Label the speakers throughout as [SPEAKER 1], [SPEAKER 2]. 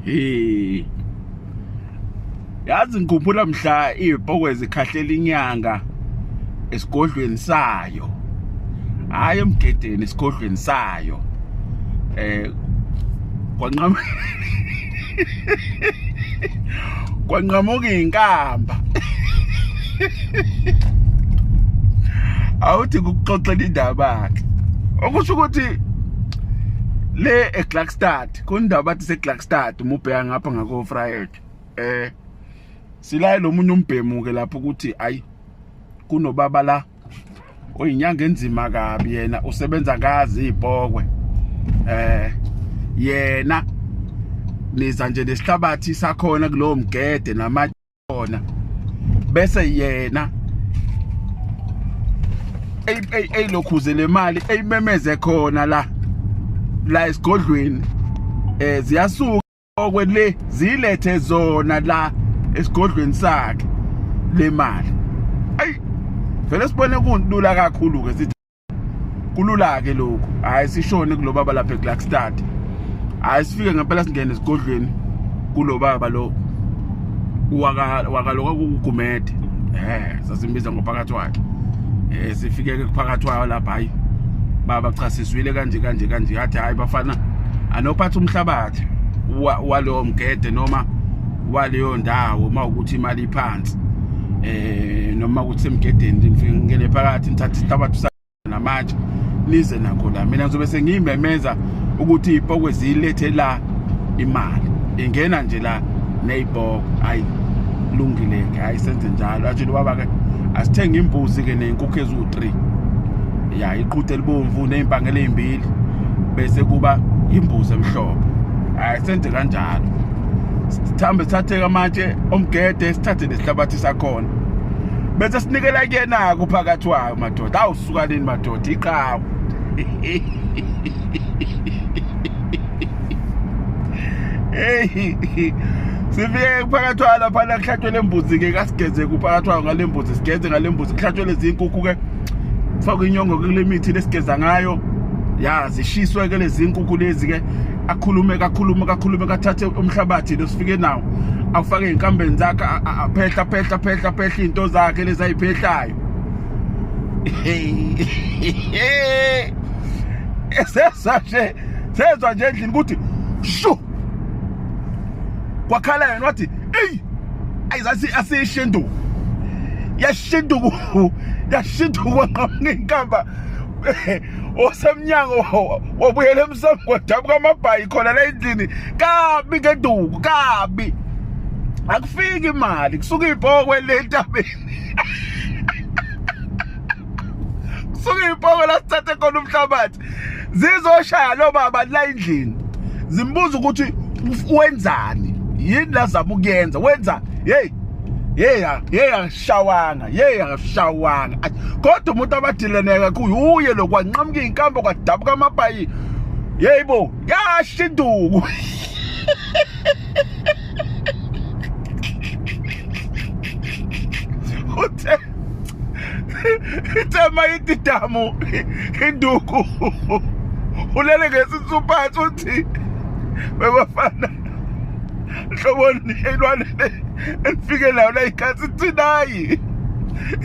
[SPEAKER 1] hey yazi ngikhumbula mhla izipokwe zikhahlela inyanga esigodlweni sayo hayi emgedeni esigodlweni sayo eh kwanqama kwanqamuka inkamba awuthi kukuxoxela indaba ke okusho ukuthi le eGlaxstad kundaba bathi seGlaxstad umubheka ngapha ngako Friday eh silaye lomunye umbhemu ke lapho ukuthi ayi kunobaba la uyinyanga enzima kabi yena usebenza kazi ibhokwe eh yena niza nje nesihlabathi sakhona kulowo mgede namajona bese yena eyilokhuze le mali eyimemeze khona la la esigodlweni eh ziyasuka okwe le zilethe zona la esigodlweni sakhe le mali ayi vele sibone kulula kakhulu ke sithi kulula ke lokho hayi sishone kulobaba lapha eGlaxstad hayi sifike ngempela singene esigodlweni kulobaba lo wakaloka kugumede eh sasimbiza ngophakathi wakhe eh sifike ke kuphakathi wayo lapha hayi baba cha sizwile kanje kanje kanje yathi hayi bafana anophatha umhlabathi walowo mgede noma waleyo ndawo uma ukuthi imali iphansi eh noma ukuthi semgedeni ngifike ngene phakathi ngithatha isihlabathi namatshe nize nakho la mina ngizobe sengiyimemeza ukuthi ipokwe ziyilethe la imali ingena nje la neyibhoko hayi lungile ke hayi senze njalo atshile ubaba ke asithenge imbuzi ke nenkukhu ezu-3 ya iqhuthe elibomvu nezimpangela ezimbili bese kuba imbuzi emhlophe hayi senze kanjalo sithambe sithathe amatshe omgede sithathe nesihlabathi sakhona bese sinikela kuyena-ke uphakathi wakhe madoda awusukanini madoda iqawu hey sifike kuphakathwayo laphana kuhlathwe le mbuzi-ke kasigeze kuphakathwayo ngale mbuzi sigeze ngale mbuzi kuhlathwe lezi nkukhu-ke kufakwe inyongo kule mithi lesigeza ngayo ya zishiswe-ke lezi nkukhu lezi-ke akhulume kakhulume kakhulume kathathe umhlabathi lo sifike nawo awufake ey'nkambeni zakhe aphehla phehla phehla phehla iy'nto zakhe lezi ayiphehlayo esezwa nje sezwa nje endlini ukuthi shu kwakhala yena wathi eyi ayizathi asiyishinduku yashinduku yashinduku kwaqhamuka inkamba osemnyango wabuyela emsamo kwadabuka amabhayi khona la endlini kabi ngeduku kabi akufiki imali kusuka ibhokwe le ntabeni kusuke ipoko la sithathe khona umhlabathi zizoshaya lo baba la endlini zimbuza ukuthi wenzani yini la zama ukuyenza wenza hey hey hey ashawanga hey ashawanga kodwa umuntu abadileneka kuye uye lokwanqamuka inkambo kwadabuka amapayi yeyibo yashinduku uthe ithe mayitidamu induku ulele ngesisuphathi uthi bebafana hloboni ilwane le elifike nayo la ikhathi thinayi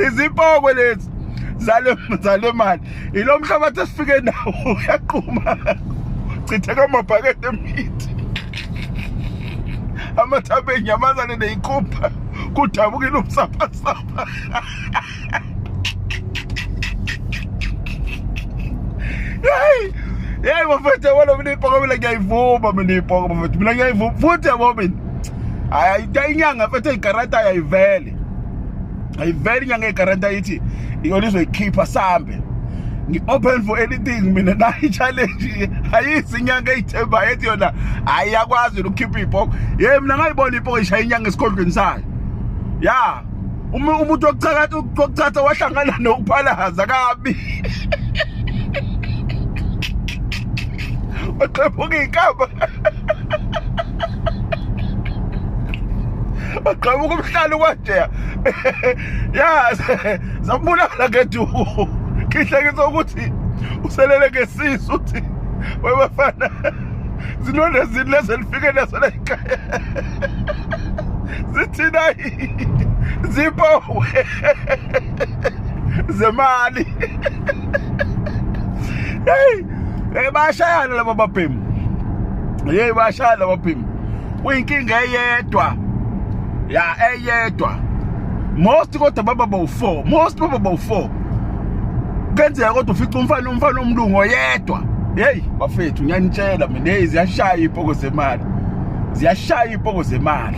[SPEAKER 1] izipoko lezi zale zale mali ilo mhlabathi esifike nawo uyaquma chitheka amabhakede emithi amathambo enyamazane neyikhupha kudabukile umsaphasapha yeyi yeyi bafethu yabona mina iyibhoko mina ngiyayivuma mina iyibhoko bafethu mina ngiyayivuma futhi yabo mina hayi inyanga fethu eyigarata ayayivele ayiveli inyanga egaranta ithi iyona izoyikhipha sambe ngi-open for anything mina nayo i-challenge ayisi inyanga eyithembayo ethi yona hayi yakwazi yona ukukhipha iy'poko ye mina ngayibona iy'poko ishaya inyanga esikhondlweni sayo ya umuntu wokuchatha wahlangana nokuphalaza kabi oqephuka iy'kamba waqhamuka umhlalo kwadeya ya zabulala ngeduku ngihlekisa ukuthi uselele ngesisu uthi webafana zinonde zini lezi lifike nazo la ekhaya zithina zipowe zemali hey bayashayana laba babhemu hey bayashayana laba babhemu kuyinkinga eyedwa ya eyedwa most kodwa baba bawu-four most baba bawu-four kenzeka kodwa ufica umfana umfana omlungu oyedwa heyi bafethu ngiyanitshela mina heyi ziyashaya iy'poko zemali ziyashaya iy'poko zemali